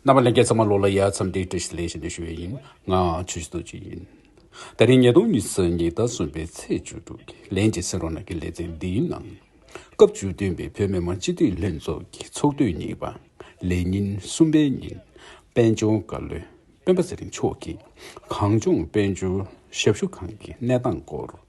རྣམ་པ་ལན་བརྒྱད་ཚང་མ་ལོ་ལ་ཡར་འཚམས་འདྲིའི་བཀྲ་ཤིས་ལན་བཞིན་དུ་ཞུ་བས་ཡིན། ང་འང་ཆོས་ཞུ་འདོད་ཅིག་ཡིན། ད་རིང་ཉིས་སྟོང་ཉི་ཟེར་ཉིས་ཟླ་གསུམ་པའི་ཚེས་བཅུ་དྲུག་གི་ལན་གཅིག་སེང་རོང་ནང་གི་ལེ་ཚན་འདིའི་ནང། སྐབས་བཅུ་བདུན་པའི་བོད་མི་མང་སྤྱི་འཐུས་ལྷན་ཚོགས་ཀྱི་ཚོགས་དུས་གཉིས་པ། ལས་ཉིན་གསུམ་པའི་ཉིན། དཔལ་འབྱོར་བཀའ་བློན་སྤེན་པ་ཚེ་རིང་མཆོག་གིས་གངས་ལྗོངས་དཔལ་འབྱོར་ཞབས་ཞུ་ཁང་གི་གནས་སྟངས་སྐོར།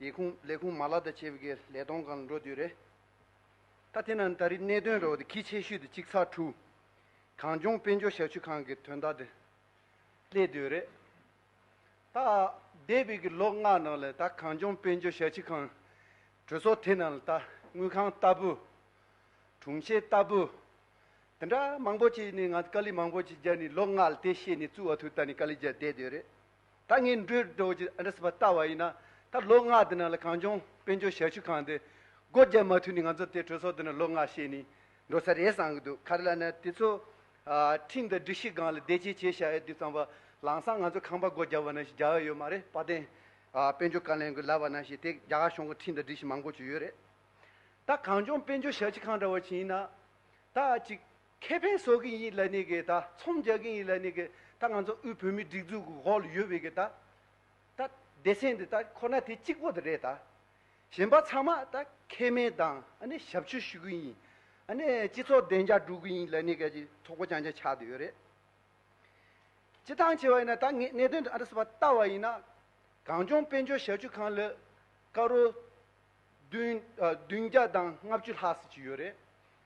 ཡིག་ཁུངས་ལས་ཁུངས་མ་ལག་དང་བྱེད་པོ་ཀྱི་ལས་གཏོང་གང་ལ་འགྲོ་དུས་རེད། ད་དེ་ན་ད་རིས་གནད་དོན་རེ་བ་དེ་གི་ཆེ་ཤོས་དེ་གཅིག་ཚགས་ཁྲུའུ། གངས་ལྗོངས་དཔལ་འབྱོར་ཞབས་ཞུ་ཁང་གི་དོན་དག་དེ་སླེབས་དུས་རེད། ད་འདས་པའི་གི་ལོ་ལྔ་ནང་ལ་ད་གངས་ལྗོངས་དཔལ་འབྱོར་ཞབས་ཕྱི་ཁང་གྲོས་ཚོགས་དེ་ནང་ལ་ད་དངུལ་ཁང་ལྟ་བུ། དྲུང་ཆེ་ལྟ་བུ། དེ་འདྲ་མང་པོ་ཅིག་ནི་ང་ཚོ་དཀའ་ལས་མང་པོ་ཅིག་རྒྱག་ནས་ལོ་ལྔ་ལ་དེ་ཤེས་ནས་བཙུགས་བ་ཐུག་ད་ནི་དཀའ་ལས་རྒྱག་བསྡད་དུས་རེད། ད་ངས་འགྲོས་སྒྲོག་རྒྱུ་འདྲ་སྲིད་པ་ལྟ་བ་ཡིན་ན། ད་ལོ་ལྔ་འདི་ནང་ལ་གངས་ལྗོངས་དཔལ་འབྱོར་ཞབས་ཞུ་ཁང་འདི་སྒོ་རྒྱབ་མ་ཐུབ་ནས་ང་ཚོ་དེ་གྲོས་ཚོགས་འདི་ནང་ལོ་ལྔ་བཤད་ནས་འགྲོ་ས་རེད་བསམ་གྱི་འདུག་ག་རེ་ལ་ན་དེ་ཚོ། ཁྲིམས་དང་སྒྲིག་གཞི་སྒང་ལ་བདེ་སྐྱིད་བྱེད་བྱ་ཡ་དུས་ཙམ་བ་ལང་སང་ང་ཚོ་ཁང་པ་སྒོ་རྒྱབ་བ་ན་ཞིག་རྒྱག་ཡ་ཡོད་མ་རེད་དཔའ་ལྡན། དཔལ་འབྱོར་བཀའ་ལན་གྱི་ལབ་བ་ན་ཞིག་དེ་རྒྱ་གར་གཞུང་གི་ཁྲིམས་དང་སྒྲིག་གཞི་མང་པོ་བྱུ་ཡོད་རེད། ད་གངས་ལྗོངས་དཔལ་འབྱོར་ཞབས་ཞུ་ཁང་འདྲ་བ་བྱིན་ན། ད་ཅིག་ཁེ་ཕན་བཟོ་གིན་ཡིན་ལ་ནི་གི་ད་ཚོམ་རྒྱག་གིན་ཡིན་ལ་ནི་གི་ད་ང་ཚོ་དབུས་བོད་མིའི་སྒྲིག་འཛུགས་ཀྱི་འོག་ལ་ཡོད་པའི་གི་ད་ད་སྡེ་ཚན་དེ་ད་ཁོ་ན་དེ་གཅིག་པོ་དེ་རེད་ད། གཞན་པ་ཚང་མ་ད་ཁེ་སྨན་དང་ཨ་ནི་ཞབས་ཕྱི་ཞུ་གིན་ཡིན་ཨ་ནི་སྤྱི་ཚོགས་བདེ་འཇགས་སྒྲུག་གིན་ཡིན་ལ་ནི་གི་ཚོགས་པ་རྐྱང་རྐྱང་ཆགས་དེ་ཡོད་རེད། སྤྱི་ཐང་ཆེ་བ་ཡིན་ན་ད་ངས་གནད་དོན་དེ་ཨ་རི་སི་བ་ལྟ་བ་ཡིན་ན་གངས་ལྗོངས་དཔལ་འབྱོར་ཞབས་ཞུ་ཁང་ལ་ཀ་རོ་བདུན་བདུན་བརྒྱ་དང་ལྔ་བཅུ་ལྷག་ཟེར་གྱི་ཡོད་རེད།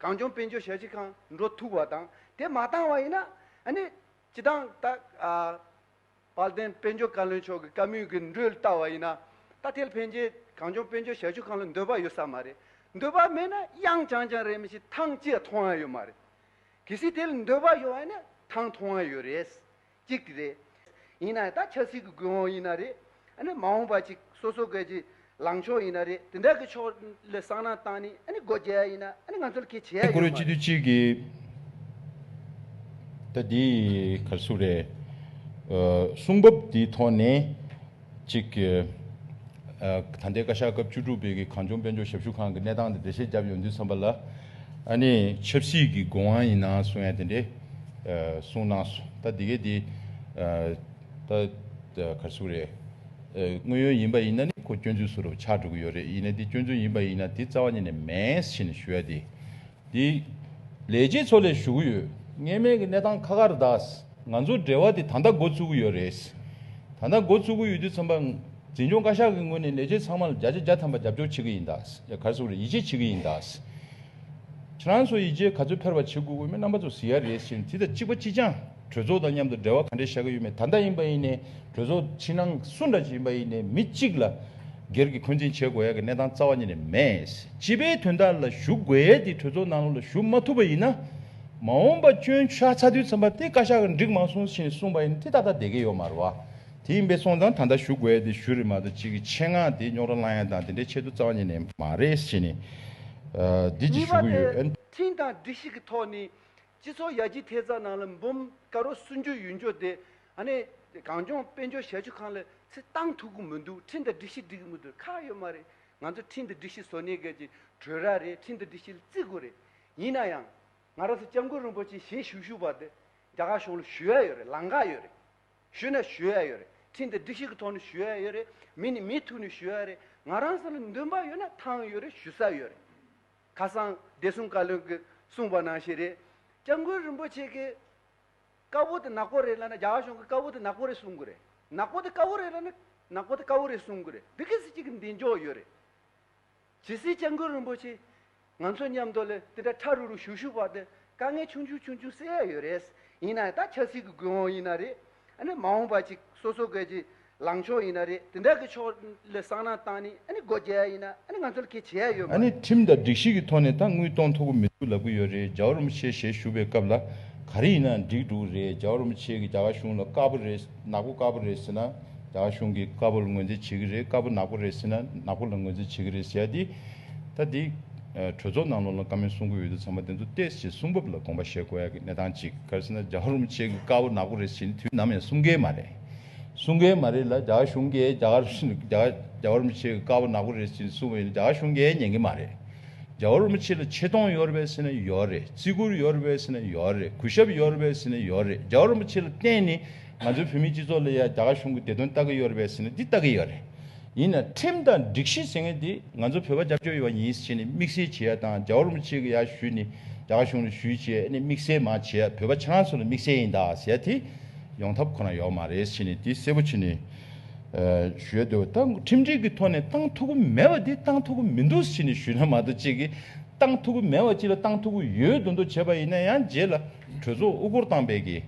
གངས་ལྗོངས་དཔལ་འབྱོར་ཞབས་ཕྱི་ཁང་འགྲོ་ཐུབ་པ་དང་དེ་མ་བཏང་བ་ཡིན་ན་ནི། སྤྱི་བཏང་ད། དཔལ་ལྡན་དཔལ་འབྱོར་བཀའ་བློན་མཆོག་གི་བཀའ་མོལ་གྱི་འགྲོས་ལྟ་བ་ཡིན་ན། ད་ཐེལ་ཕན་ཆད་གངས་ལྗོངས་དཔལ་འབྱོར་ཞབས་ཞུ་ཁང་ལ་འདོད་པ་ཡོད་ས་མ་རེད། འདོད་པ་མེད་ན་དབྱང་ཅང་ཅང་རེད་མི་ཤེས་ཐང་ཅི་ཡང་མཐོང་ཡ་ཡོད་མ་རེད། གལ་སྲིད་དེ་ལ་འདོད་པ་ཡོད་བ་ཡིན་ན་ཐང་མཐོང་ཡ་ཡོད་རེད། གཅིག་གི་རེད། ཡིན་ན་ད་ཆབ་སྲིད་ཀྱི་དགོས་དབང་ཡིན་ན་རེད། ཨ་ནི་མ་འོངས་པ་ཅིག་སོ་སོ་སྐད་ཀྱི་ལངས་ཕྱོགས་ཡིན་ན་རེད་དེ་འདྲ་གི་ཕྱོགས་ལ་བསམ་ན་ཏང་ནི་ཨ་ནི་སྒོ་འབྱེད་ཡ་ཡིན་ན་ཨ་ནི་ང་ཚོ་ལ་ཁེ་ཆེ་ཡ་ཡོད་མ་རེད། ཀྱི་གི་ད་འདི་ག་སུ་རེད། གསུང་བབ་འདི་ཐོག་ནས། གཅིག། ད་ལྟའི་བཀའ་ཤག་སྐབས་བཅུ་དྲུག་པའི་གངས་ལྗོངས་དཔལ་འབྱོར་ཞབས་ཞུ་ཁང་གི་གནས་སྟངས་དེ་འགྲེལ་བཤད་བརྒྱབ་ཡོང་དུས་མཚམས་པ་ལ། ཨ་ནི་ཆབ་སྲིད་ཀྱི་དགོས་དབང་ཡིན་ནའང་གསུང་ཡ་དེ་འདྲས་གསུངས་གནང་སོང་ད་དེ་གས་དེ་ད་གར་སུ་རེད། དངོས་ཡོད་ཡིན་པ་ཡིན་ན་ནི་ཁོ་སྐྱོན་འཛུལ་སུ་རུ་ཆགས་འགྲོ་གི་ཡོད་རེད་ཡིན་ན་དེ་སྐྱོན་འཛུལ་ཡིན་པ་ཡིན་ན་དེ་རྩ་བ་ཉིད་ནས་མེད་ཤེས་ནས་ཞུ་ཡ་དེ། འདི། ལས་བྱེད་ཚོ་ལས་ཞུ་གི་ཡོད། ངེས་མེད་ཀྱི་གནས་སྟངས་ཁ་ཁར་གདའ། ང་ཚོ་འབྲེལ་བ་དེ་ད་ལྟ་འགོ་བཙུགས་གི་ཡོད་རེད། ད་ལྟ་འགོ་བཙུགས་གི་ཡོད་དུས་ཚང་པ། འཛིན་སྐྱོང་བཀའ་ཤག་གི་ངོས་ནས་ལས་བྱེད་ཚང་མ་ལ་བརྒྱ་ཆ་བརྒྱ་ཐམ་པ་རྒྱབ་སྐྱོར་བྱེད་ཀྱི་ཡིན་གདའ། ཡ་གར་སོགས་ལ་ཡིད་ཆེས་བྱེད་ཀྱི་ཡིན་གདའ། ཁྱེད་རང་ཚོ་ཡིད་ཆེས་ག་ཚོད་འཕེར་བ་བྱེད་དགོས་འོས་མི་རྣམ་པ་ཚོ་ཟེར་ཡ་རེད་ཟེར་ནས་དེ་དང་གཅིག་པ་གཅིག་རྐྱང། གྲོས་ཚོགས་དང་མཉམ་དུ་འབྲེལ་བ་ག་འདྲས་བྱ་གི་ཡོད་མེད་ད་ལྟ་ཡིན་པ་ཡིན་ནས་གྲོས་ཚོགས་ཕྱི་ནང་སུ་འདྲ་ཞིག་ཡིན་པ་ཡིན་ནས་མི་གཅིག་ལ་སྒེར་གྱི་འཁོན་འཛིན་བྱེད་དགོས་ཡ་གི་གནས་སྟངས་རྩ་བ་ཉིད་ནས་མེད། སྤྱི་པའི་དོན་དག་ལ་ཞུགས་དགོས་ཡས་དེ་གྲོས་ཚོགས་ནང་ལོགས་ལ་ཞུགས་མ་ཐུབ་པ་ཡིན་ན། མ་འོངས་པ་སྐྱོན་ཤ་ཚ་དུས་ཚམ་པ་དེ་བཀའ་ཤག་གི་འགྲིག་མ་སོང་ཞེས་གསུངས་པ་ཡིན་དེ་ད་ལྟ་བསྡད་ཀྱི་ཡོད་མ་རེད་བ། དེ་ཡིན་པས་སོང་ཙང་ད་ལྟ་ཞུགས་དགོས་ཡས་དེ་ཞུ་རེ་མ་གཏོགས་གཅིག་གི་ཆེད་མངགས་དེ་རྙོག་དྲ་སླང་ཡས་དང་དེ་འདྲའི་ཆེད་དུ་རྩ་བ་ཉིད་ནས་མ་རེད་ཞེས་ནས། འདི་གཅིག་གཉིས་པ་ཞུ་གི་དེ་ཡོད། ཁྲིམས་དང་སྒྲིག་གཞི་གི་ཐོག་ནས་སྤྱི་ཚོགས་ཡར་རྒྱས་ཐད་རྩ་ནང་ལ་འབུམ་དཀར་རོ་གསུངས་རྒྱུ་ཡོད་འགྱོ་དེ་ཨ་ནེ་གངས་ལྗོངས་དཔལ་འབྱོར་ཞལ་ཆུ་ཁང་ལ་ཚེ་བཏང་ཐུག་གི་མི་འདུག་འཕྲིན་དང་སྒྲིག་གཞི་སྒྲིག་གི་མི་འདུག་ཁག་ཡོད་མ་རེད་ང་ཚོ་འཕྲིན་དང་སྒྲིག་གཞི་བཟོ་གནས་གལ་ཆེན་གྲོས་ར་རེད་འཕྲིན་དང་སྒྲིག་གཞི་ལ་བརྩི་དགོས་རེད་ཡིན་ན་ཡང་ང་རང་ཚོ་སྐྱབས་མགོན་རིན་པོ་ཆེ་ཞལ་བཞུགས་ཞུ་བ་དེ་རྒྱ་གར་གཞུང་ལ་ཞུ་ཡ་ཡོད་རེད་ལང་ཀ་ཡོད་རེད་ཞུ་ན་ཞུ་ཡ་ཡོད་རེད་འཕྲིན་དང་སྒྲིག་གཞི་གི་ཐོག་ནས་ཞུ་ཡ་ཡོད་རེད་མི་ནི་མི་ཐུག་ནས་ཞུ་ཡ་རེད་ང་རང་ཚོ་ལ་འདུན་པ་ཡོད་ན་ཐང་ཡོད་རེད་ཞུ་ས་ཡོད་རེད། ཁ་སང་བདེ་སྲུང་བཀའ་བློན་གྱིས་གསུངས་པ་ནང་བཞིན་རེད། སྐྱབས་མགོན་རིན་པོ་ཆེ་གིས། དཀར་པོ་དེ་ནག་པོ་རེད་ལབ་ན་རྒྱ་གར་གཞུང་གིས་དཀར་པོ་དེ་ནག་པོ་རེད་གསུང་གི་རེད། ནག་པོ་དེ་དཀར་པོ་རེད་ལབ་ན་ནག་པོ་དེ་དཀར་པོ་རེད་གསུང་གི་རེད། འདི་གི་སྲིད་སྤྱི་གི་མདེན་འཇོག་ཡོད་རེད། ཇི་སྲིད་སྐྱབས་མགོན་རིན་པོ་ཆེས། ང་ཚོ་མཉམ་དུ་ལས་དེ་འདྲ་ཁྲ་རུ་རུ་ཞུ་ཞུ་བར་དུ་དཀའ་ངལ་ཆུང་ཆུང་ཆུང་ཆུང་སེལ་ཡ་ཡོད་རེད། ཡིན་ནའང་ད་ཆབ་སྲིད་ཀྱི་དགོས་དབང་ཡིན་ན་རེད། ཨ་ནི་མ་འོངས་པ་ཅིག་སོ་སོ་ཀས་ཀྱིས་ལངས་ཕྱོགས་ཡིན་ན་རེད་དེ་འདྲ་གི་ཕྱོགས་ལ་བསམ་ན་ཏང་ནི་ཨ་ནི་སྒོ་རྒྱ་ཡིན་ན་ཨ་ནི་ང་ཚོ་ལ་གལ་ཆེ་ཡ་ཡོད་མ་ཨ་ནི་རེད། ཁྲིམས་དང་སྒྲིག་གཞི་གི་ཐོག་ནས་ད་དངུལ་གཏོང་ཐུབ་ཀི་མི་འདུག་ལབ་ཀི་ཡོད་རེད་ཇའོ་རོམ་ཆེ་ཞེས་ཞུ་བའི་སྐབས་ལ་ག་རེ་ཡིན་ན་འགྲིག་འགྲོ་གི་རེད་ཇའོ་རོམ་ཆེ་གི་རྒྱ་གར་གཞུང་ལ་དཀར་པོ་རེད་ནག་པོ་དཀར་པོ་རེད་ཟེར་ན་རྒྱ་གར་གཞུང་གིས་དཀར་པོ་ལ་ངོས་འཛིན་བྱེད་ཀི་རེད་དཀར་པོ་ནག་པོ་རེད་ཟེར་ན་ནག་པོ་ལ་ངོས་འཛིན་བྱེད་ཀི་རེད་ཟེར་ཡ་དེ་ད་དེ་གྲོས་ཚོགས་ནང་ལོགས་ལ་བཀའ་མོལ་གསུང་གི་ཡོད་དུས་ཚང་མ་དེ་ཚོ་ཏེས་ཞེས་གསུང་བབ་ལ་དགོངས་པ་བཞེས་དགོས་ཡ་གི་གནས་སྟངས་གཅིག་ག་རེ་ཟེར་ན་ཇའོ་རོམ་ཆེ་གི་དཀར་པོ་ནག་པོ་རེད་ཟེར་ནི་དུས་ནམ་ཡང་གསུང་གི་མ་རེད། གསུང་མཁན་མ་རེད་ལ་རྒྱ་གར་གཞུང་གིས་རྒྱ་གར་རྒྱ་བོར་མི་ཆེ་དཀའ་བ་ནག་པོ་རེད་ཅེས་གསུང་བའི་རྒྱ་གར་གཞུང་གིས་ཉན་གི་མ་རེད། རྒྱ་བོར་མི་ཆེ་ལ་ཆེ་མཐོང་ཡོད་རེད་ཟེར་ན་ཡོད་རེད་བརྩི་བཀུར་ཡོད་རེད་ཟེར་ན་ཡོད་རེད་གུས་ཞབས་ཡོད་རེད་ཟེར་ན་ཡོད་རེད་རྒྱ་བོར་མི་ཆེ་ལ་བརྟེན་ནས་ང་ཚོའི་བོད་མིའི་སྤྱི་ཚོགས་ལ་ཡང་རྒྱ་གར་གཞུང་གིས་བདེ་དོན་ལྟ་གི་ཡོད་རེད་ཟེར་ན་འདི་ལྟ་གི་ཡོད་རེད། ཡིན་ནའང་ཁྲིམས་དང་སྒྲིག་གཞི་ཟེར་མཁན་དེ་ང་ཚོ་བོད་པ་རྒྱབ་སྐྱོར་ཡོད་པ་ཡིན་ཟེར་ནས་དམིགས་བསལ་བྱེད་ཡ་དང་རྒྱ་བོར་མི་ཆེ་གི་ཡ་ཞུས་ནས་རྒྱ་གར་གཞུང་ལ་ཞུས་བྱས་ནས་དམིགས་བསལ་མ་བྱས་ཡ་བོད་པ་ཁྱེད་རང་ཚོ་ལ་དམིགས་བསལ་ཡིན་དཱ་ཟེར་ཡ་དེ། ཡོང་ཐབས་ཁོ་ན་ཡོད་མ་རེད་ཕྱིན་ནས་དེ་གསལ་པོ་ཕྱིན་ནས་ཞུས་འདུག་ད་ཁྲིམས་སྒྲིག་གི་ཐོག་ནས་བཏང་ཐུབ་ཀྱི་མེད་པ་དེ་བཏང་ཐུབ་ཀྱི་མི་འདུག་ཕྱིན་ནས་ཞུས་ན་མ་གཏོགས་གཅིག་བཏང་ཐུབ་ཀྱི་མེད་པ་གཅིག་ལ་བཏང་ཐུབ་ཀྱི་ཡོད་འདུག་འདུག་བྱས་པ་ཡིན་ན་ཡང་རྗེས་ལ་གྲོས་ཚོགས་དབུ་སྐོར་བཏང་པས་ཀྱི་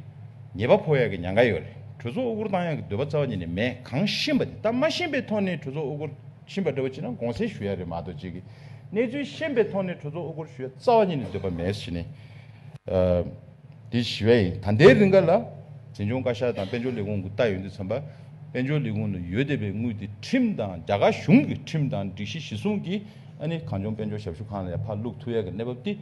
ཉེས་པ་ཕོག་ཡག་གི་ཉང་ག་ཡོད་རེད་གྲོས་ཚོགས་དབུ་སྐོར་བཏང་ཡག་གི་འདོད་པ་རྩ་བ་ཉིད་ནས་མེད་གང་ཤེས་པ་དེ་ད་མ་ཤེས་པའི་ཐོག་ནས་གྲོས་ཚོགས་དབུ་སྐོར་ཕྱིན་པ་འདྲ་བོ་བྱས་ན་དགོངས་སེལ་ཞུ་ཡག་རེད་མ་གཏོགས་གཅིག་གནས་ཚུལ་ཤེས་པའི་ཐོག་ནས་གྲོས་ཚོགས་དབུ་སྐོར་ཞུ་ཡག་རྩ་བ་ཉིད་ནས་འདོད་པ་མེད་ཕྱིན་ནས། དེ་བཞི་བ་ཡིན། ད་ལྟའི་རིང་ག་ལ། འཛིན་སྐྱོང་བཀའ་ཤག་དང་དཔལ་འབྱོར་ལས་ཁུངས་ཀྱི་ལྟ་ཡོད་འདི་ཚང་པ། དཔལ་འབྱོར་ལས་ཁུངས་ནས་ཡོད་བསྡད་པའི་དངུལ་དེ་ཁྲིམས་དང་རྒྱ་གར་གཞུང་གི་ཁྲིམས་དང་སྒྲིག་གཞི་གཞི་བཟུང་གིས་ཨ་ནི་གངས་ལྗོངས་དཔལ་འབྱོར་ཞབས་ཞུ་ཁང་ལ་ཡང་ཕར་བླུགས་ཐུབ་ཡག་གི་གནས་བབ་དེ་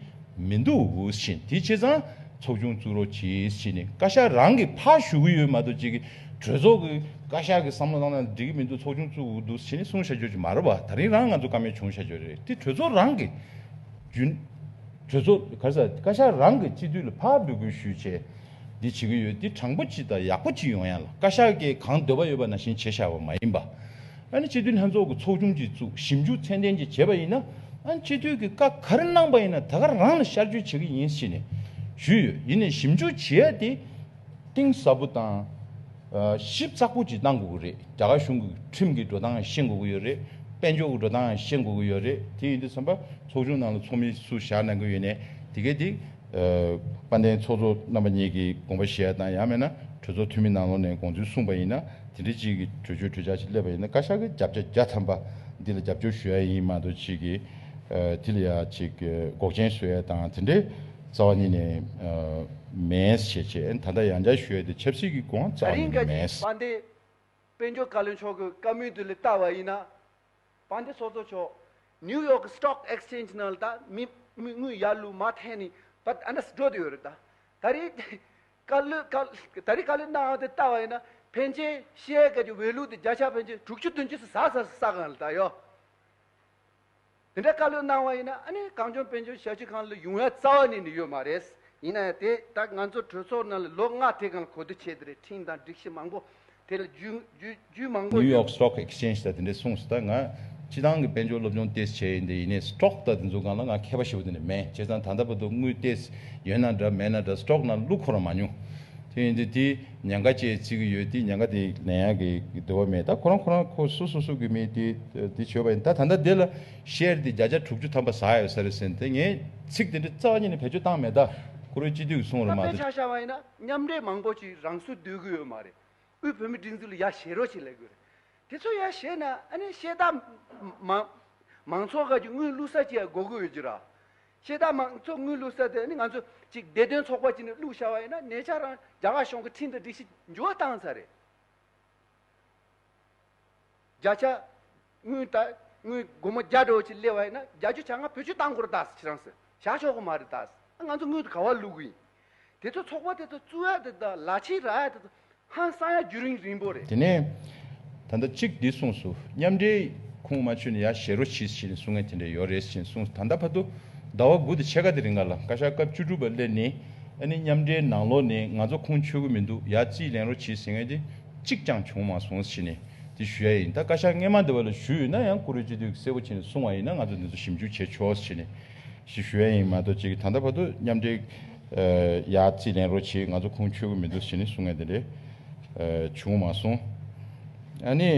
མི་འདུག་འུ་བཞིན་དེ་བྱས་ཙང་ཚོགས་ཆུང་བཙུགས་རོགས་གྱིས་ཕྱིས་ནས་བཀའ་ཤག་རང་གིས་ཕར་ཞུ་གི་ཡོད་མ་གཏོགས་ཅིག་གིས་གྲོས་ཚོགས་ཀྱི་བཀའ་ཤག་གིས་བསམ་བློ་བཏང་ན་འགྲིག་གི་མི་འདུག་ཚོགས་ཆུང་བཙུགས་འུ་འདུག་ཕྱིས་ནས་གསུང་བྱ་རྒྱུ་ཅིག་མ་རེད་བ་ད་རིང་རང་ང་ཚོ་ཀ་མེད་བྱུང་བྱ་རྒྱུ་རེད་དེ་གྲོས་ཚོགས་རང་གིས་རྒྱུན། གྲོས་ཚོགས་ག་ས་བཀའ་ཤག་རང་གི་སྤྱི་འཐུས་ལ་ཕར་འབོད་སྐུལ་ཞུས་ཆེད་འདི་བྱེད་ཀྱི་ཡོད་འདི་དྲང་པོ་ཅི་དང་ཡག་པོ་ཅི་ཡོང་ཡང་ལ་བཀའ་ཤག་གིས་གང་འདོད་པ་ཡོད་པ་ན་བཞིན་བྱེད་བཞག་པ་མ་ཡིན་པ། ཨ་ནི་སྤྱི་འཐུས་ལྷན་ཚོགས་ཀྱི་ཚོགས་ཆུང་གཅིག་བཙུགས་ཞིབ་འཇུག་ཚད་ལྡན་གྱིས་བྱས་པ་ཡིན་ན་ཨ་ནི་སྤྱི་འཐུས་ཀྱི་བཀའ་ག་རེ་གནང་པ་ཡིན་ན་ད་ག་རང་ལ་ཤར་བསྐྱོད་བྱེད་ཀྱི་ཡིན་ཞེས་ནས་ཞུས་ཡོད་ཡིན་ནས་ཞིབ་འཇུག་བྱེད་ཡ་དེ་གཏིང་ཟབ་པོ་དང། ཞིབ་ཚགས་པོ་ཅིག་གནང་དགོས་ཀྱི་རེད། རྒྱ་གར་གཞུང་གི་ཁྲིམས་ཀྱི་འགྲོ་སྟངས་ཤེས་དགོས་ཀྱི་ཡོད་རེད། དཔལ་འབྱོར་གྱི་འགྲོ་སྟངས་ཡང་ཤེས་དགོས་ཀྱི་ཡོད་རེད། དེ་ཡིན་དུས་བསམ་པ་ཚོགས་ཆུང་ནང་ལ་ཚོགས་མི་སུ་བཞག་གནང་གི་ཡོད་ནས་དེ་གས་དེ། དཔལ་ལྡན་ཚོགས་གཙོ་རྣམ་པ་གཉིས་ཀྱིས་དགོངས་པ་བཞེས་ཡ་དང་ཡང་མེད་ན་གྲོས་ཚོགས་འཐུས་མི་ནང་ལོགས་ནས་དགོངས་ཚུལ་གསུངས་པ་ཡིན་ན་དེ་འདྲའི་གཅིག་གི་གྲོས་ཆོད་གྲོས་འཆར་ཞིག་སླེབས་པ་ཡིན་ན་བཀའ་ཤག་གི་རྒྱབ་ཆ་བརྒྱ་ཐམ་པ་འདི་ལ་རྒྱབ་སྐྱོར་ཞུ་ཡ་ཡིན་མ་གཏོགས་གཅིག་གིས་དེ་ལ་ཡང་གཅིག་འགོག་རྐྱེན་བཟོས་ཡ་དང་དེ་འདྲའི། རྩ་བ་ཉིད་ནས་མེད། ཞེས་བྱས་ན་ད་ལྟ་ཡང་བསྐྱར་ཞུས་ཏེ་ཆབ་སྲིད་ཀྱི་དགོངས་རྩ་ཉིད་ནས་མེད། བ་འདི། དཔལ་འབྱོར་བཀའ་བློན་མཆོག་གི་བཀའ་མོལ་དུ་ལས་བལྟ་བ་ཡིན་ན། བ་འདི་ཚོགས་གཙོ་མཆོག New York Stock Exchange ནང་ལ་ད་མི་དངུལ་ཡར་ལུགས་མ་ཐེངས་ནས་བ་ཨ་འདྲ་འགྲོ་དུས་ཡོད་རེད་ད། ད་རེས་བཀའ་བློན་བཀའ་ད་རེས་བཀའ་བློན་གནང་བ་དེ་བལྟ་བ་ཡིན་ན་ཕན་ཆད་ཤེས་ཡས་སྐད་ཀྱི་འོས་བླུགས་དེ་བརྒྱ་ཆ་ཕན་ཆད་དྲུག་ཅུ་བདུན་ཅུ་སོ་ཟ་ས་སོ་ཟ་གང་ལ་ད་ཡོད། དེ་འདྲ་བཀའ་ལོས་གནང་བ་ཡིན་ན་ཨ་ནི་གངས་ལྗོངས་དཔལ་འབྱོར་ཞབས་ཕྱི་ཁང་ལ་ཡུང་ཡ་རྩ་བ་ནས་ནི་ཡོད་མ་རེད། ཡིན་ན་ཡང་དེ་ལྟར་ང་ཚོ་གྲོས་ཚོགས་ནང་ལ་ལོ་ལྔ་དེ་གང་ལ་གོ་བསྡུར་བྱས་དེ་རེད་ཁྲིམས་དང་སྒྲིག་གཞི་མང་པོ་དེ་ལ་རྒྱུས་མང་པོ New ཡོད། York Stock Exchange ད་དེ་འདྲས་གསུངས་སོ་ད་ང་སྤྱི་ཐང་གི་དཔལ་འབྱོར་སློབ་སྦྱོང་ཏེས་བྱས་ཡིན་དེ་ཡིན་ནས Stock ད་དེ་ཚོ་གང་ལ་ང་མཁས་པ་ཞེས་པོ་དེ་འདྲས་མེད་བྱས་ཙང་ད་ལྟ་བར་དུ་དངུལ་ཏེས་ཡོད་ན་འདྲ་མེད་ན་འདྲ Stock ནང་བླུགས་འཁོར་རང་མ་མྱོང་དེ་ཡིན་དེ་དེ། ཉེན་ཁ་བཅས་བརྩི་གི་ཡོད་དེ་ཉེན་ཁ་དེ་ལན་ཡང་གི་འདོད་པ་མེད་ད་ཁོ་རང་ཁོ་རང་ཁོ་སུ་སུ་གསུག་གི་མིན་དེ་དེ་བྱོས་པ་ཡིན་ད་ད་ལྟ་དེ་ལ་བཤེར་དེ་བརྒྱ་ཆ་དྲུག་ཅུ་ཐམ་པ་ཟ་ཡོད་ས་རེད་ཟེར་དེ་ངས་ཚིག་དེ་འདྲ་རྩ་བ་ཉིད་ནས་བེད་སྤྱོད་བཏང་མེད་ད་ཁོ་རོའི་སྤྱི་འཐུས་ཀྱི་གསུང་རེད་མ་ད། ཆ་བཞག་པ་ཡིན་ན་མཉམ་འབྲེལ་མང་པོ་ཅིག་རང་སུ་སྡོད་གི་ཡོད་མ་རེད་དབུས་བོད་མི་སྒྲིག་འཛུགས་ལ་ཡ་བྱེད་རོགས་ཅིག་ལས་དགོས་རེད་དེ་ཚོ་ཡ་བྱེད་ན་ཨ་ནི་ཤེས་རྟགས་མང་མང་ཚོགས་ཁག་གི་དངུལ་བླུག་ས་ཅིག་ཡ་དགོས་གི་ཡོད་རྒྱུ་ར་ཤེས་དག་མང་ཚོགས་དངུལ་བླུག་ས་དེ་ནི་ང་ཚོ་ཅིག་བདེ་དོན་ཚོགས་པ་གཅིག་ནས་བླུག་བཞག་པ་ཡིན་ན་ཉེ་ཆར་རང་རྒྱ་གར་གཞུང་གི་ཁྲིམས་དང་སྒྲིག་གཞི་འགྱུར་བ་བཏང་ཚར་རེད། བརྒྱ་ཆ་དངུལ་དག་དངུལ་སྒོར་མོ་བརྒྱ་དྲུག་ཅིག་སླེ་བ་ཡིན་ན་བརྒྱ་ཆུ་བྱ་ང་བོད་ཆུ་བཏང་དགོས་རེད་གདའ་སི་ཁྱེད་རང་སི་བཞག་ཆོག་གི་མ་རེད་གདའ་སི་ཨ་ང་ཚོ་དངུལ་དུ་ག་བ་བླུག་གི་ཡིན་དེ་ཚོ་ཚོགས་པ་དེ་ཚོ་བཙུགས་ཡ་དེ་དང་ལ་ཕྱིས་རག་ཡ་དེ་ཚོ་ཧང་སང་ཡ་རྒྱུ་རིང་རིང་པོ་རེད། དེ་ནས་ད་ལྟ་གཅིག་འདི་གསུངས་སུ་མཉམ་འབྲེལ་ཁུངས་མ་ཆུད་ནས་ཡ་ཞེ་རོ་ཕྱིས་ཕྱིས་ནས་གསུང་ཡ་དེ་འདྲ་ཡོད་རེད་ཅེས་གསུངས་ད་ལྟ་བར་དུ་ཟླ་བ་དགུ་དང་ཕྱེད་ཀ་དེ་རིང་ག་ལ་བཀའ་ཤག་སྐབས་བཅུ་དྲུག་པ་སླེབས་ནས་ཨ་ནི་མཉམ་འབྲེལ་ནང་ལོགས་ནས་ང་ཚོ་ཁུངས་ཆུད་གི་མི་འདུག་ཡ་རྩིས་ལེན་རོ་ཕྱིས་ཟེར་ཡ་དེ་གཅིག་ཀྱང་བྱུང་མ་སོང་ཕྱིས་ནས་དེ་ཞུ་ཡ་ཡིན་ད་བཀའ་ཤག་སྔས་མ་འདི་བ་ལ་ཞུས་ཡོད་ན་ཡང་བཀུར་འོས་སྤྱི་འཐུས་ཀྱི་གསལ་བོ་བྱས་ནས་གསུང་བ་ཡིན་ན་ང་ཚོ་འདི་ཚོ་ཞིབ་འཇུག་བྱས་ཆོག་ཟེར་ནས་ཞེས་ཞུ་ཡ་ཡིན་མ་གཏོགས་ཅིག་ད་ལྟ་བར་དུ་མཉམ་འབྲེལ་ཡ་རྩིས་ལེན་རོགས་བྱེད་ང་ཚོ་ཁུངས་འཁྱོལ་གི་མི་འདུག་ཞེས་ནི་གསུང་ངན་དེ་འདྲས་བྱུང་མ་སོང། ཨ་ནི།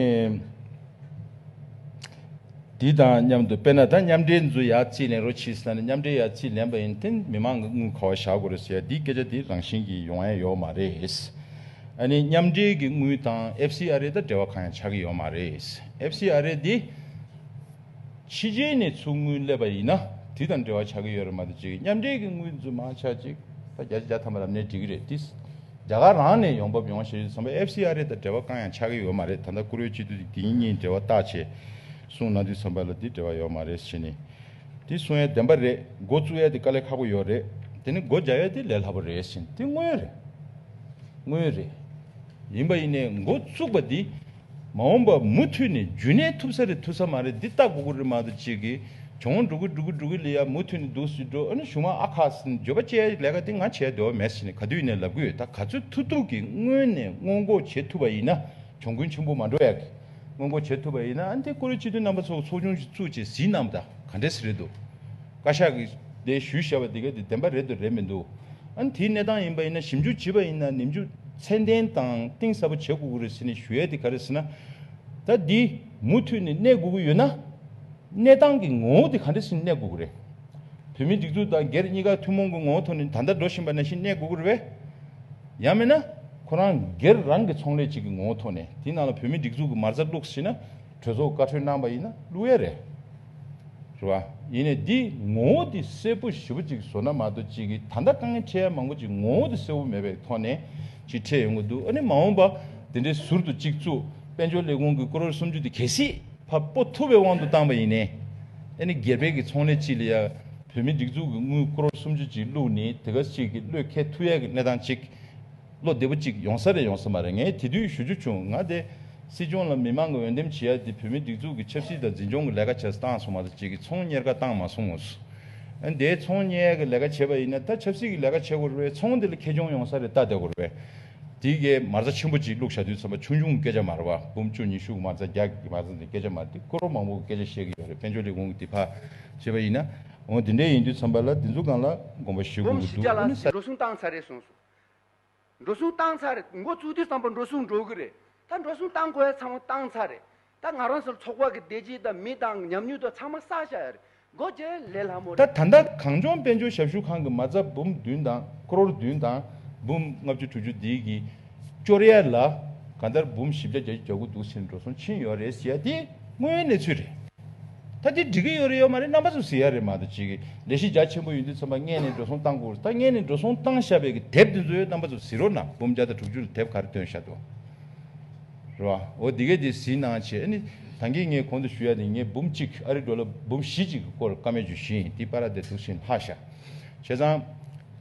དེ་དང་མཉམ་དུ་དཔེར་ན་ད་མཉམ་འབྲེལ་མཛོད་ཡ་རྩིས་ལེན་རོགས་བྱེད་ཟེར་ན་ནི་མཉམ་འབྲེལ་ཡ་རྩིས་ལེན་པ་ཡིན་ཏེ་མི་མང་གི་དངུལ་ག་བ་བཞག་དགོས་རེད་ཟེར་ཡ་འདིའི་སྐད་ཆ་དེ་རང་བཞིན་གྱིས་ཡོང་ཡ་ཡོད་མ་རེད། ཨ་ནི་མཉམ་འབྲེལ་གྱི་དངུལ་དང་ཨེབ་སི་ཨ་རེ་དང་འབྲེལ་བ་གང་ཡང་ཆགས་ཀྱི་ཡོད་མ་རེད། ཨེབ་སི་ཨ་རེ་འདི། ཕྱི་རྒྱལ་ནས་ཚུགས་དངུལ་སླེབས་པ་ཡིན་ན་དེ་དང་འབྲེལ་བ་ཆགས་ཀྱི་ཡོད་རེད་མ་གཏོགས་ཅིག་མཉམ་འབྲེལ་གྱི་དངུལ་འཛུལ་མ་ཆགས་ཅིག་ད་རྒྱ་ཆེ་རྒྱ་ཐམས་པ་རབ་གནས་འགྲིག་གི་རེད་དེས་རྒྱ་གར་རང་ནས་ཡོང་འབབ་ཡོང་ཞེས་བཟོ་འབབ་ཨེབ་སི་ཨ་རི་དང་འབྲེལ་བ་གང་ཡང་ཆགས་ཀྱི་ཡོད་མ་རེད་ད་ལྟ་བཀུར་འོས་སྤྱི་འཐུས་དེ་དེ་གཉིས་འབྲེལ་བ་བཏགས་བྱས་གསུངས་གནང་དུས་བཟོ་འབབ་ལ་དེ་འབྲེལ་བ་ཡོད་མ་རེད་བྱས་ནས་དེ་གསུང་ཡས་བདེན་པ་རེད་འགོ་བཙུགས་ཡས་དེ་དཀའ་ལས་ཁག་པོ་ཡོད་རེད་དེ་ནས་སྒོ་རྒྱག་ཡས་དེ་ལས་སླ་པོ་རེད་བྱས་ནས་དེ་དངོས་རེད་དངོས་རེད་ཡིན་པ་ཡིན་ནས་འགོ་བཙུགས་པ་དེ། མ་འོངས་པར་མུ་མཐུད་ནས་རྒྱུན་གནས་ཐུབ་ས་རེད་ཐུབ་ས་མ་རེད་འདི་ལྟ་གོ་གོ་རེད་མ་གཏོགས་ཅིག་གིས་གྱོང་འགྲོ་གི་འགྲོ་གི་འགྲོ་གི་ལས་ཡག་མུ་མཐུད་ནས་འདུག་སུས་འགྲོ་ཨ་ནུ་གཞུང་ཨ་ཁ་སི་ནི་འགྱོད་པ་བཅས་ལས་ཀ་འདི་ང་བྱས་འདོད་པ་མེད་ཟེར་ནས་ག་དུས་ནས་ལབ་གི་ཡོད་ད་ག་ཚོད་ཐུག་ཐུག་གིས་སྔོན་ནས་སྔོན་འགོག་བྱེད་ཐུབ་པ་ཡིན་ན་གྱོང་གུན་ཆེན་པོ་མ་འགྲོ་ཡག་གི་སྔོན་འགོག་བྱེད་ཐུབ་པ་ཡིན་ན་ཨ་འདི་ཀོ་རི་སྤྱི་མཐུན་རྣམ་པ་ཚོ་ཚོགས་ཆུང་ཞིག་བཙུགས་རྗེས་ཟིན་ནམ་ད་ག་འདྲས་ཟེར་རེད་འདུག། བཀའ་ཤག་གིས་དེ་ཞུས་བཞག་པ་དེ་ག་དེ་བདེན་པ་རེད་དུ་རེད་མི་འདུག་ཨ་ནི་དེའི་གནས་སྟངས་ཡིན་པ་ཡིན་ན་ཞིབ་འཇུག་བྱེད་པ་ཡིན་ན་ནིམ་འཇུག་ཚད་ལྡན་དང་གཏིང་ཟབ་པོ་བྱེད་དགོས་ཀྱི་རེད་ཟེར་ནས་ཞུ་ཡས་དེ་ག་རེད་ཟེར་ན། ད་འདི་མུ་མཐུད་ནས་གནས་དགོས་ཀྱི་ཡོད་ན། གནས་སྟངས་ཀྱི་ངོ་བོ་དེ་ག་འདྲ་ཟིན་གནས་དགོས་ཀྱི་རེད། བོད་མིའི་སྒྲིག་འཛུགས་དང་སྒེར་གཉིས་ཀ་ཐུན་མོང་གི་ངོ་བོ་ཐོག་ནས་ད་ལྟ་འགྲོ་བཞིན་པ་ནང་བཞིན་གནས་དགོས་ཀྱི་རེད་བས། ཡང་མིན་ན། ཁོ་རང་སྒེར་རང་གི་ཚོང་ལས་ཅིག་གི་ངོ་བོ་ཐོག་ནས་དེའི་ནང་ལ་བོད་མིའི་སྒྲིག་འཛུགས་ཀྱི་མར་ཟ་བླུགས་ཟིན་ན་གྲོས་ཚོགས་བཀའ་འཁྲོལ་གནང་པ་ཡིན་ན་བླུགས་ཡས་རེད། ཟེར་བ། ཡིན་ནས་འདིས་ངོ་བོ་དེ་སེར་པོ་བཞི་པོ་གཅིག་བཟོ་ན་མ་གཏོགས་གཅིག་གིས་ད་ལྟ་དཀའ་ངལ་འཕྲད་ཡ་མང་པོ་ཅིག་ངོ་བོ་དེ་སེར་བོ་མེད་པའི་ཐོག་ནས་ཅིག་འཕྲད་ཡོང་གི་འདུག་ཨ་ནི་མ་འོངས་པ་དེ་འདྲའི་ཟུར་དུ་གཅིག་བཙུགས་དཔལ་འབྱོར་ལས་ཁུངས་ཀྱི་ཀོ་རོར་སུམ་ཅུ་དེ་གལ་སྲིད་ཕ་སྤོ་ཐུབ་པའི་དབང་དུ་བཏང་པ་ཡིན་ནས་ཨ་ནི་སྒེར་བེད་ཀྱི་ཚོང་ལས་ཅིག་ལ་ཡ་བོད་མི་སྒྲིག་འཛུགས་ཀྱི་དངུལ་ཀོ་རོར་སུམ་ཅུ་ཅིག་བླུགས་ནས་དེ་ག་ཅིག་གི་བློས་འཁེལ་ཐུབ་ཡ་གི་གནས་སྟངས་ཅིག་བློ་བདེ་པོ་གཅིག་ཡོང་ས་རེད་ཡོང་ས་མ་རེད་ངས་དེ་དུས་ཞུ་རྒྱུ་བྱུང་ང་དེ། སྲིད་སྐྱོང་ལ་མི་དམངས་ཀྱི་འོས་འདེམས་བྱེད་ཡ་དེ་བོད་མི་སྒྲིག་འཛུགས་ཀྱི་ཆབ་སྲིད་དང་འཛིན་སྐྱོང་གི་ལས་ཀ་བྱས་ས་བཏང་སོང་མ་ད་ཅིག་གི་ཚོང་གཉེར་ཀ་བཏང་མ་སོང་ངོ། དེ་ཚོང་གཉེར་གི་ལས་ཀ་བྱེད་པ་ཡིན་ན་ད་ཆབ་སྲིད་ཀྱི་ལས་ཀ་བྱེད་དགོས་རེད་བས་ཚོང་དེ་ལ་ཁེ་གྱོང་ཡོང་ས་རེད་ད་དེ་དགོས་རེད་བས། དེ་གས་མ་རྩ་ཆེན་པོ་གཅིག་བླུག་བྱ་དུས་ཚོམ་པ་ཆུང་ཆུང་གི་སྐད་ཆ་མ་རེད་བ་འབུམ་བཅུ་ཉི་ཤུ་གི་མ་རྩ་བརྒྱ་གི་མ་རྩ་འདི་སྐད་ཆ་མ་རེད་དེ་ཀོ་རོ་མང་པོ་གི་སྐད་ཆ་བཤད་གི་ཡོད་རེད་དཔལ་འབྱོར་ལས་ཁུངས་ཀྱི་དེ་ཕ་བྱེད་པ་ཡིན་ན་འོ་དེ་འདྲས་ཡིན་དུས་ཚོམ་པ་ལ་དེ་ཚོ་གང་ལ་དགོངས་པ་ཞུ་དགོས་འབུམ་ཀྱི་བཞི་བརྒྱ་ལ་འདུག་འོ་ནི་ས། འགྲོ་སོང་བཏང་ཚར་རེད་གསུངས་སོང། འགྲོ་སོང་བཏང་ཚར་རེད་འགོ་བཙུགས་དུས་བསམ་པར་འགྲོ་སོང་འགྲོ་གི་རེད་ད་འགྲོ་སོང་བཏང་གོ་ཡ་ཚང་མ་བཏང་ཚར་རེད་ད་ང་རང་ཚོར་ཚོགས་པ་གི་བདེ་སྐྱིད་དང་མི་དང་ཉམས་མྱོང་དང་ཚང་མ་བསགས་བཞག་ཡ་རེད་འགོ་བརྗེ་ལེ་ལྷ་མོ་རེད། ད་ད་ལྟ་གངས་ལྗོངས་དཔལ་འབྱོར་ཞབས་ཞུ་ཁང་གི་མ་རྩ་འབུམ་བདུན་དང་ཀྲོར་བདུན་དང་འབུམ་ལྔ་བཅུ་དྲུག་ཅུ་འདི་གི་སྐྱོར་ཡ་ལ་གང་ལྟར་འབུམ་བཞི་བརྒྱ་བརྒྱ་ཅུ་གྱ་དགུ་འདུག་ཟེར་ནས་འགྲོ་སོང་ཕྱིན་ཡོད་རེད་ཟེར་ཡ་དེ་དངོས་ཡོད་གནས་ཚུལ་རེད། ད་འདི་འགྲིག་གི་ཡོད་རེད་ཡོད་མ་རེད་རྣམ་པ་ཚོ་ཟེར་ཡ་རེད་མ་ད་ཅིག་ལས་གཞི་རྒྱ་ཆེན་པོ་ཡོད་འདུག་ཚོན་པ་རྔན་ནས་འགྲོ་སོང་བཏང་དགོས་ད་རྔན་ནས་འགྲོ་སོང་བཏང་ཤ་བའི་གི་དེབ་དེ་ཚོའི་རྣམ་པ་ཚོ་ཟིན་རོ་ན་འབུམ་བརྒྱ་དང་དྲུག་ཅུ་ལ་དེབ་ག་རེ་སྟོན་ཤ་དུ་རེད་བ་འོ་འདི་གས་དེ་ཟིན་ནང་བྱས་ཨ་ནི་ད་འགས་ངས་གོང་དུ་ཞུ་ཡ་དེ་ངས་འབུམ་གཅིག་ཨ་རེ་འགྲོ་ལ་འབུམ་བཞི་ཅིག་གི་སྐོར་བཀའ་མོལ་བྱོས་ཤིང་དེ་པ་ར་དེ་ཐུགས་ཞེན་ལྷག་ཤ་བྱས་ཙང།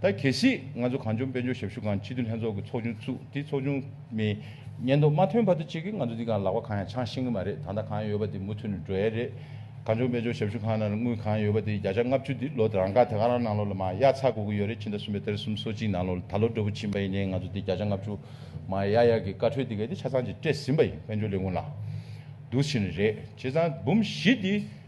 ད་གལ་སྲིད་ང་ཚོ་གངས་ལྗོངས་དཔལ་འབྱོར་ཞབས་ཞུ་ཁང་སྤྱི་འཐུས་ལྷན་ཚོགས་ཀྱི་ཚོགས་ཆུང་བཙུགས་དེ་ཚོགས་ཆུང་མི་སྙན་ཐོ་མ་ཐོན་བར་དུ་ཅི་གི་ང་ཚོ་འདི་ག་ལག་པ་གང་ཡང་འཆང་ཤེས་གི་མ་རེད་ད་ལྟ་གང་ཡང་ཡོད་པ་དེ་མུ་མཐུད་ནས་འགྲོ་ཡས་རེད། གངས་ལྗོངས་དཔལ་འབྱོར་ཞབས་ཞུ་ཁང་ནང་ལ་དངུལ་གང་ཡང་ཡོད་པ་དེ་བརྒྱ་ཆ་ལྔ་བཅུ་དེ་ལོ་རང་ཀ་དེ་ག་རང་ནང་ལོག་ལ་མ་ཡག་ཚག་དགོས་གི་ཡོད་རེད་ཕྱི་ཟླ་གསུམ་པའི་ཏེར་གསུམ་སོ་གཅིག་ནང་ལོག་ད་ལོ་འགྲོ་བུ་ཕྱིན་པ་ཡིན་ནའི་ང་ཚོ་དེ་བརྒྱ་ཆ་ལྔ་བཅུ་མ་ཡག་ཡག་གི་བཀའ་འཁྲོལ་དེ་ག་དེ་ཆ་ཚང་གཅིག་སྤྲད་ཟིན་པ་ཡིན་དཔལ་འབྱོར་ལས་ཁུངས་ལ། འདུག་ཕྱིན་རེད་བྱས་ཙང་འབུམ་བཞི་དེ།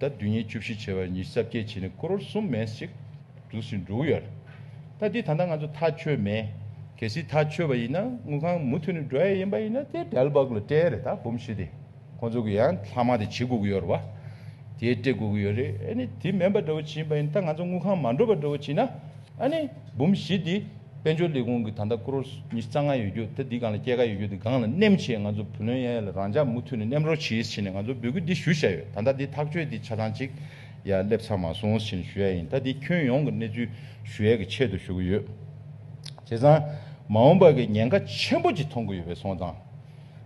ད་བདུན་ཉིན་བཅུ་བཞི་བྱེ་བ་ཉི་ཤུ་རྩ་བརྒྱད་བྱས་ནས་ཀོརོར་གསུམ་མན་ཞིག་འདུག་ཟིན་འགྲོ་གི་ཡོད་རེད། ད་འདི་ད་ལྟ་ང་ཚོ་ཐག་ཆོད་མེད། གལ་སྲིད་ཐག་ཆོད་པ་ཡིན་ན་དངུལ་ཁང་མུ་མཐུད་ནས་འགྲོ་ཡ་ཡིན་པ་ཡིན་ན་དེ་བྲལ་བག་ལ་སྤྲད་རེད་ད་འབུམ་བཞི་དེ་ཁོང་ཚོ་གི་ཡང་ལྷག་མ་དེ་བྱེད་དགོས་ཀྱི་ཡོད་རེད་བ། དེ་སྤྲད་དགོས་ཀྱི་ཡོད་རེད་ཨེ་ནི་དེ་མེད་པ་འདྲ་བོ་བྱེད་ཡིན་པ་ཡིན་ད་ང་ཚོ་དངུལ་ཁང་མ་འགྲོ་པ་འདྲ་བོ་བྱེད་ན། ཨ་ནི། འབུམ་བཞི་འདི། དཔལ་འབྱོར་ལས་ཁུངས་ཀྱི་ད་ལྟ་ཀྲོར་ཉི་ཤུ་རྩ་ལྔ་ཡོད་རྒྱུ་ད་འདི་སྒང་ལ་སྐྱེད་ཀ་ཡོད་རྒྱུ་འདི་སྒང་ལ་བསྣེམས་ཆེད་ང་ཚོ་བུ་ལོན་ཡ་ཡ་ལ་རང་འཇགས་མུ་མཐུད་ནས་བསྣེམས་རོགས་གྱིས་བྱས་ནས་ང་ཚོ་འབོད་སྐུལ་འདི་ཞུ་བཞག་ཡོད་ད་ལྟ་འདི་ཐག་གཅོད་འདི་ཆ་ཚང་གཅིག་ཡ་སླེབས་ཚར་མ་སོང་བྱས་ནས་ཞུ་ཡ་ཡིན་ད་འདི་ཁྱོན་ཡོངས་ཀྱི་གནས་ཚུལ་ཞུ་ཡ་གི་ཆེད་དུ་ཞུ་གི་ཡོད། བྱས་ཙང། མ་འོངས་པ་གི་ཉེན་ཁ་ཆེན་པོ་གཅིག་མཐོང་གི་ཡོད་པའི་ཚོང་ཙང།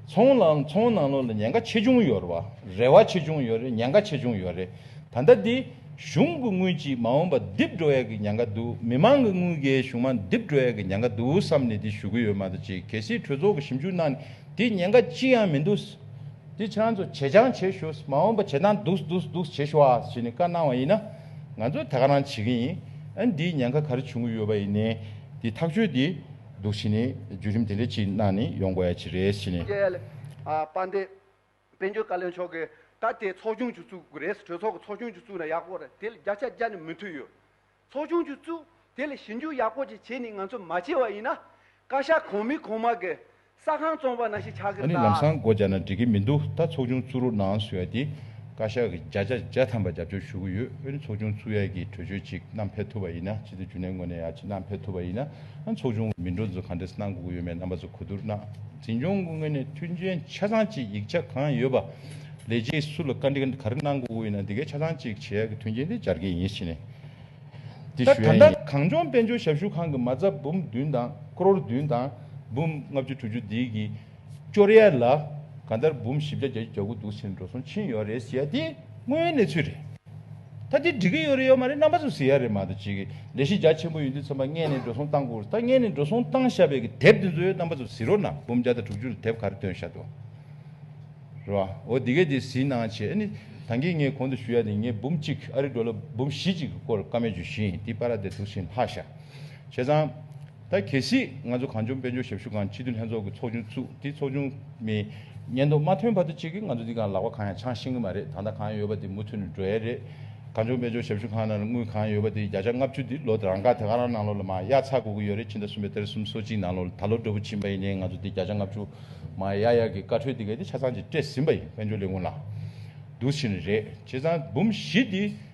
ཚོང་ལ་ཚོང་ནང་ལོག་ལ་ཉེན་ཁ་ཆེ་ཆུང་ཡོད་རེད་བ་རེད་བ་ཆེ་ཆུང་ཡོད་རེད་ཉེན་ཁ་ཆེ་ཆུང་ཡོད་རེད་ད་ལྟ་འདི། གཞུང་གི་དངུལ་གྱིས་མ་འོངས་པ་རྡིབ་འགྲོ་ཡག་གི་ཉང་ག་འདུག་མི་མང་གི་དངུལ་གྱིས་གཞུང་མ་རྡིབ་འགྲོ་ཡག་གི་ཉང་ག་འདུག་བསམ་ནས་འདི་ཞུ་གི་ཡོད་མ་ད་ཅིག་གལ་སྲིད་གྲོས་ཚོགས་ཀྱི་ཞིབ་འཇུག་གནང་ནས་འདི་ཉེན་ཁ་ཅི་ཡང་མི་འདུག་འདི་ཁྱེད་རང་ཚོ་བྱེད་རྐྱང་བྱེད་ཞུ་མ་འོངས་པ་བྱེད་སྟངས་འདུག་འདུག་འདུག་བྱེད་ཞུ་ཨ་ཞེས་ནས་བཀའ་གནང་བ་ཡིན་ན་ང་ཚོ་ད་ག་རང་བྱེད་ཀྱི་ཡིན་ཨ་འདིའི་ཉེན་ཁ་ག་རེ་བྱུང་གི་ཡོད་པ་ཡིན་ནས་འདི་ཐག་གཅོད་འདི་འདུག་ཞེས་ནས་བརྒྱུད་རིམ་དེ་འདྲ་ཅིག་གནང་ནས་ཡོང་དགོས་ཡ་ཅིག་རེད་ཞེས་ནས། བསྐྱལ། པ་འདི། དཔལ་འབྱོར་བཀའ་བློན་མཆོག་གིས་ད་ལྟའི་ཚོགས་ཆུང་བཅུ་བཙུགས་རེད་ཟེར་གྲོས་ཚོགས་ཀྱི་ཚོགས་ཆུང་བཅུ་བཙུགས་ན་ཡག་པོ་རེད་དེ་ལ་བརྒྱ་ཆ་བརྒྱ་ནི་མི་མཐུན་ཡོད། ཚོགས་ཆུང་བཅུ་བཙུགས་དེ་ལ་ཞིབ་འཇུག་ཡག་པོ་ཅིག་བྱས་ནས་ང་ཚོས་མ་བྱས་བ་ཡིན་ན། བཀའ་ཤག་གང་མིན་གང་མ་གིས་ས་ཁང་བཙོང་བ་ན་ཞིག་ཆགས་ཀྱི་ཨ་ནི་ལམ་སང་འགོ་རྒྱག་ན་འགྲིག་གི་མི་འདུག་ད་ཚོགས་ཆུང་བཙུགས་རོགས་གནང་ཟེར་བ་དེ་བཀའ་ཤག་གིས་བརྒྱ་ཆ་བརྒྱ་ཐམ་པ་རྒྱབ་སྐྱོར་ཞུ་གི་ཡོད་ཨ་ནི་ཚོགས་ཆུང་བཙུགས་ཡས་ཀྱིས་གྲོས་ཆོད་ཅིག་གནང་ཕེབས་ཐུབ་པ་ཡིན་ན་ཕྱི་ཚེས་བཅུ་ནས་ངོ་ནས་ཡག་ཅིག་གནང་ཕེབས་ཐུབ་པ་ཡིན་ན། ཚོགས་ཆུང་མི་འགྲོ་ཚོས་ག་འདྲས་གནང་དགོས་ཀྱི་ཡོད་མེད་རྣམ་པ་ཚོ་གོ་བསྡུར་གནང། འཛིན་སྐྱོང་སྐུ་ངལ་ནས་མཐུན་རྐྱེན་ཆ་ཚང་གཅིག་ཡིག་ཆ་གང་ཡོད་པ། ལས་བྱེད་སུ་ལ་བཀའ་འདྲི་ག་རེ་གནང་དགོས་ཀྱི་ཡོད་ན་འདི་གའི་ཆ་ཚང་གཅིག་བྱས་ཀྱི་མཐུན་རྐྱེན་དེ་སྦྱར་གྱི་ཡིན་ཞེས་ནས་དེ་ཞུ་ཡ་ཡིན། གངས་ལྗོངས་དཔལ་འབྱོར་ཞབས་ཞུ་ཁང་གི་མ་རྩ་འབུམ་བདུན་དང་ཀྲོར་བདུན་དང་འབུམ་ལྔ་བཅུ་དྲུག་ཅུ་འདི་གི། སྐྱོར་ཡས་ལ་གང་ལྟར་འབུམ་བཞི་བརྒྱ་བརྒྱ་ཅུ་གྱ་དགུ་འདུག་ཟེར་ནས་འགྲོ་སོང་ཕྱིན་ཡོད་རེད་ཟེར་ཡ་དེ་དངོས་ཡོད་གནས་ཚུལ་རེད། ད་དེ་འགྲིག་གི་ཡོད་རེད་ཡོད་མ་རེད་རྣམ་པ་ཚོ་ཟེར་ཡ་རེད་མ་གཏོགས་ཅི་གི་ལས་གཞི་རྒྱ་ཆེན་པོ་ཡོད་འདུག་ཚན་པ་ལྔས་ནས་འགྲོ་སོང་བཏང་དགོས་ད་ལྔས་ནས་འགྲོ་སོང་བཏང་བཞག་པའི་གི་དེབ་དེ་ཚོ་ཡོད་རྣམ་པ་ཚོ་ཟིན་རོགས་གནང་འབུམ་བརྒྱ་དང་དྲུག་ཅུ་ལ་དེབ་ག་རེ་བཏོན་བཞག་འདུག་རེད་བ་འོ་དེ་གས་དེ་ཟིན་གནང་བྱས་ཨ་ནི་ད་གིས་ངས་གོང་དུ་ཞུ་ཡ་དེ་ངས་འབུམ་གཅིག་ཨ་རི་འགྲོ་ལ་འབུམ་བཞི་ཅིག་གི་སྐོར་བཀའ་མོལ་བྱོས་ཤིང་དེ་པ་ར་དེ་ཐུགས་ཞེན་ལྷག་བཞག་བྱས་ཙང། ད་གལ་སྲིད་ང་ཚོ་གངས་ལྗོངས་དཔལ་འབྱོར་ཞབས་ཞུ་ཁང་སྤྱི་འཐུས་ལྷན་ཚོགས་ཀྱི་ཚོགས་ཆུང་བཙུགས་དེ་ཚོགས་ཆུང་མི་ཉེན་རྟོག་མ་ཐོན་བར་དུ་ཅི་གི་ང་ཚོ་འདི་ག་ལག་པ་གང་ཡང་འཆང་ཤེས་གི་མ་རེད་ད་ལྟ་གང་ཡོད་པ་དེ་མུ་མཐུད་ནས་འགྲོ་ཡ་རེད། གངས་ལྗོངས་དཔལ་འབྱོར་ཞབས་ཞུ་ཁང་ནང་དངུལ་གང་ཡོད་པ་དེ་བརྒྱ་ཆ་ལྔ་བཅུ་དེ་ལོ་རང་དགར་དེ་ག་རང་ནང་ལོགས་ལ་མ་གཡར་ཚར་དགོས་ཀྱི་ཡོད་རེད་ཕྱི་ཟླ་གསུམ་པའི་གཏེར་གསུམ་སོ་གཅིག་ནང་ལོགས་ལ་ད་ལོ་འབྲས་བུ་ཕྱིན་པ་ཡིན་ནའི་ང་ཚོ་དེ་བརྒྱ་ཆ་ལྔ་བཅུ་མ་གཡར་ཡ་གི་བཀའ་འཁྲོལ་དེ་ག་དེ་ཆ་ཚང་གཅིག་སྤྲད་ཟིན་པ་ཡིན་དཔལ་འབྱོར་ལས་ཁུངས་ལ། འདུག་ཕྱིན་རེད་བྱས་ཙང་འབུམ་བཞི་དེ།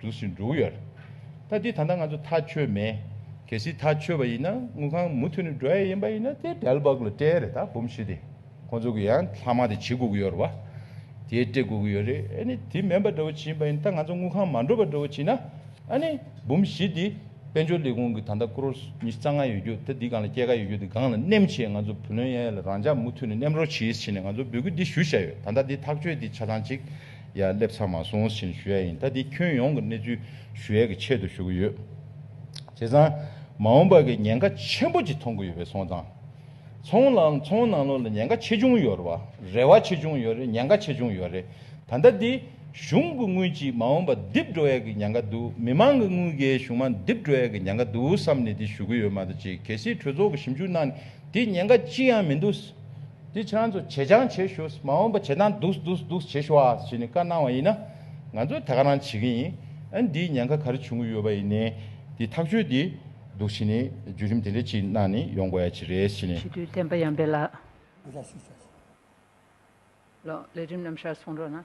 འགྲུལ་བཞིན་འགྲོ་གི་ཡོད་རེད། ད་དེ་ད་ལྟ་ང་ཚོ་ཐག་ཆོད་མེད། གལ་སྲིད་ཐག་ཆོད་པ་ཡིན་ན་དངུལ་ཁང་མུ་མཐུད་ནས་འགྲོ་ཡ་ཡིན་པ་ཡིན་ན་དེ་འབྲལ་བ་གི་སྤྲད་རེད་ད་འབུམ་བཞི་དེ་ཁོང་ཚོ་གི་ཡང་ལྷག་མ་དེ་བྱེད་དགོས་གི་ཡོད་རེད་བ། དེ་སྤྲད་དགོས་གི་ཡོད་རེད་ཨ་ནི་དེ་མེད་པ་འདྲ་བོ་བྱེད་ཡིན་པ་ཡིན་ད་ང་ཚོ་དངུལ་ཁང་མ་འགྲོ་བ་འདྲ་བོ་བྱེད་ན་ཨ་ནི་འབུམ་བཞི་དེ་དཔལ་འབྱོར་ལས་ཁུངས་གི་ད་ལྟ་ཀྲོར་ཉི་རྩ་ལྔ་ཡོད་རྒྱུ་ད་དེ་སྒང་ལ་སྐྱེད་ཀ་ཡོད་རྒྱུ་དེ་སྒང་ལ་སྣེམ་བྱེད་ང་ཚོ་བུ་ལོན་ཡ་ཡ་ལ་རང་འཇགས་མུ་མཐུད་ནས་སྣེམ་རོགས་བྱེད་ཡིས་བྱེད་ནས་ང་ཚོ་འབོད་སྐུལ་འདི་ཞུ་བཞག་ཡོད་ད་ད་དེ་ཐག་ཆོད་དེ་ཆ་ཚང་གཅིག། ཡ་སླེབས་ཚར་མ་སོང་ཟིན་ཞུ་ཡ་ཡིན་ད་འདི་ཁྱོན་ཡོངས་ཀྱི་གནས་ཚུལ་ཞུ་ཡ་གི་ཆེད་དུ་ཞུ་གི་ཡོད། བྱས་ཙང་མ་འོངས་པ་གི་ཉེན་ཁ་ཆེན་པོ་གཅིག་མཐོང་གི་ཡོད་པའི་སོང་ཙང་ཚོང་ལ་ཚོང་ནང་ལོག་ལ་ཉེན་ཁ་ཆེ་ཆུང་ཡོད་རེད་བ་རེད་བ་ཆེ་ཆུང་ཡོད་རེད་ཉེན་ཁ་ཆེ་ཆུང་ཡོད་རེད་ད་ལྟ་འདི་གཞུང་གི་དངུལ་གཅིག་མ་འོངས་པ་རྡིབ་འགྲོ་ཡ་གི་ཉེན་ཁ་འདུག་མི་མང་གི་དངུལ་གཞས་གཞུང་མང་རྡིབ་འགྲོ་ཡ་གི་ཉེན་ཁ་འདུག་བསམ་ནས་འདི་ཞུ་གི་ཡོད་མ་ད་ཅིག་གལ་སྲིད་གྲོས་ཚོགས་གི་ཞིབ་འཇུག་གནང་ནས་འདི་ཉེན་ཁ་ཅི་ཡང་མི་འདུག་དེ་ཆང་ཚོ་བྱེད་ཆང་བྱེད་ཞོས་མ་འོངས་པ་བྱེད་སྟངས་འདུག་འདུག་འདུག་བྱེད་ཞོ་ཨ་ཞེས་ནས་བཀའ་གནང་བ་ཡིན་ན་ང་ཚོས་ད་ག་རང་བྱེད་ཀྱི་ཡིན་ཨ་འདིའི་ཉེན་ཁ་ག་རེ་བྱུང་གི་ཡོད་པ་ཡིན་ནའི་དེ་ཐག་ཆོད་དེ་འདུག་བྱེད་ནས་བརྒྱུད་རིམ་དེ་འདྲ་ཅིག་གནང་ནས་ཡོང་དགོས་ཡ་ཅིག་རེད་བྱེད་ནས། ཞི་དུལ་བསྟན་པ་ཡངས་པའི་ལགས། འདི་འདྲ་ཞིག་བྱས་སོང། ལོ། ལས་རིམ་རྣམས་ཤར་སོང་རོགས་གནང།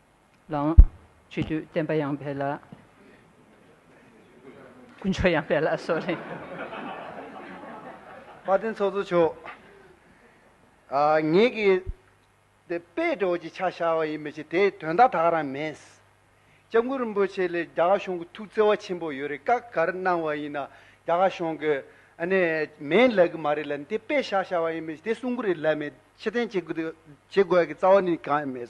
ལང། ཆོས་རྒྱུད་བསྟན་པ་ཡང་འཕེལ། དཀོན་མཆོག་ཡང་འཕེལ་སོགས་གླེང། བཀའ་དྲིན་ཚོགས་གཙོ་མཆོག། ངེད་ཀྱིས་འདི་དཔེ་སྒྲོགས་ཀྱི་ཆ་བཞག་པ་ཡིན་མི་ཆེ་དེའི་དོན་དག་དག་རང་མེད། ལྕམ་སྐུ་རིན་པོ་ཆེ་ལས་རྒྱ་གར་གཞུང་གི་ཐུགས་བརྩེ་བ་ཆེན་པོ་ཡོད་རེད་བཀའ་གར་གནང་བ་ཡིན་ན་རྒྱ་གར་གཞུང་གི་ནས་མེད་ལབ་གི་མ་རེད་ལ་འདི་དཔེ་བཞག་བཞག་པ་ཡིན་མི་ཆེ་དེ་གསུང་གི་རེད་ལབ་མེད་ཕྱིར་འཐེན་བྱེད་དགོས་ཀྱི་རྩ་བ་ནས་གང་ཡང་མེད།